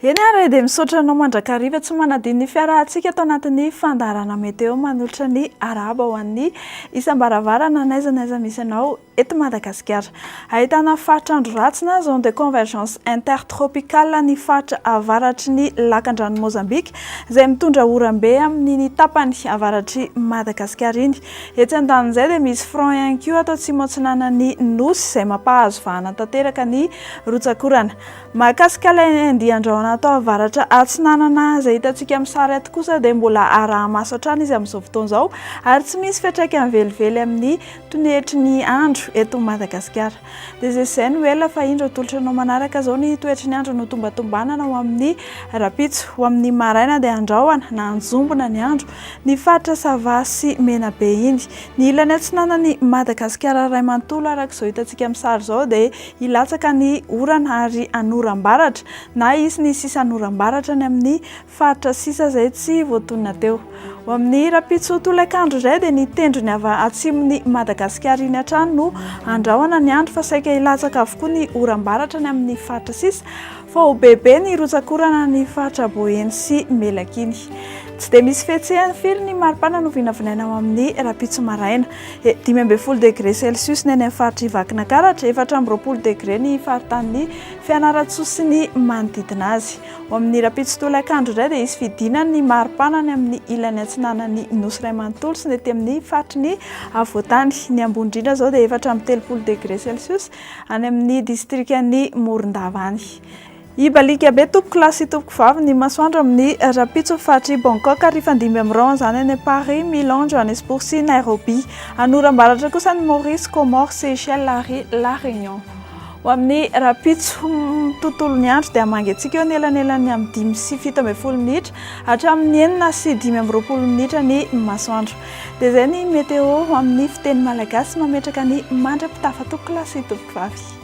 Eny ary dia misaotra anao mandrakariva tsy manadino ny fiarahantsika ato anatin'ny fandaharana meteo manolotra ny arahaba ho an'ny isam-baravarana n'aiza n'aiza misy anao eto Madagasikara. Ahitana faritra andro ratsy na zone de convergence intertropicale ny faritra avaratry ny lakandranon'i Mozambika izay mitondra oram-be amin'iny tapany avaratr'i Madagasikara iny. Etsy andanin'izay dia misy front ihany koa ato atsimo-atsinanan'ny Nosy izay mampahazo vahana tanteraka ny rotsakorana. Mahakasika ilay andian-drahona ato avaratra atsinanana izay hitantsika amin'ny sary ato kosa dia mbola araha-maso hatrany izy amin'izao fotoana izao ary tsy misy fiantraikany velively amin'ny toetry ny andro eto Madagasikara. Dia izay izay no ela fa indro atolotra anao manaraka izao ny toetry ny andro notombatombanana ho amin'ny rahampitso. Ho amin'ny maraina dia andraoana na anjombona ny andro ny faritra Sava sy Menabe iny. Ny ilany atsinanan'i Madagasikara iray manontolo araka izao hitantsika amin'ny sary izao dia hilatsaka ny orana ary hanoram-baratra na hisy ny sisan'oram-baratra any amin'ny Faritra sisa izay tsy voatonona teo. Ho amin'ny rahampitso tolakandro izay dia ny tendrony avy atsimon'i Madagasikara iny hatrany no handrahona ny andro fa saika hilatsaka avokoa ny oram-baratra any amin'ny faritra sisa fa ho bebe ny rotsak'orana any faritra Boeny sy Melaky iny. Tsy dia misy fihetsehany firy ny maripana no vinavinaina ho amin'ny rahampitso maraina. Dimy ambin'ny folo degre celsius ny any amin'ny faritr'i Vakinakaratra, efatra amby roapolo degre ny faritanin'i Fianarantsoa sy ny manodidina azy. Ao amin'ny rahampitso tolakandro indray dia hisy fidinana ny maripana any amin'ny ilany atsinanan'ny Nosy iray manontolo sy ny ety amin'ny faritry ny afovoantany. Ny ambony indrindra izao dia efatra amby telopolo degre celsius any amin'ny distrikan'i Morondava any. Hibaliaka be tompoko lahy sy tompoko vavy ny masoandro amin'ny rahampitso faritry Bangkok ary hifandimby amin'ny rahona izany any Paris, Milan, Johannesburg sy Nairobi. Any oram-baratra kosa ny Maurice, Comores, Seychelles ary La Réunion. Ho amin'ny rahampitso, ny tontolon'ny andro dia mangatsiaka eo anelanelan'ny amin'ny dimy sy fito ambin'ny folo minitra hatramin'ny enina sy dimy amby roapolo minitra ny masoandro. Dia izay ny Météo ho amin'ny fiteny malagasy mametraka ny mandra-pitafan-toko Classe Tovovavy.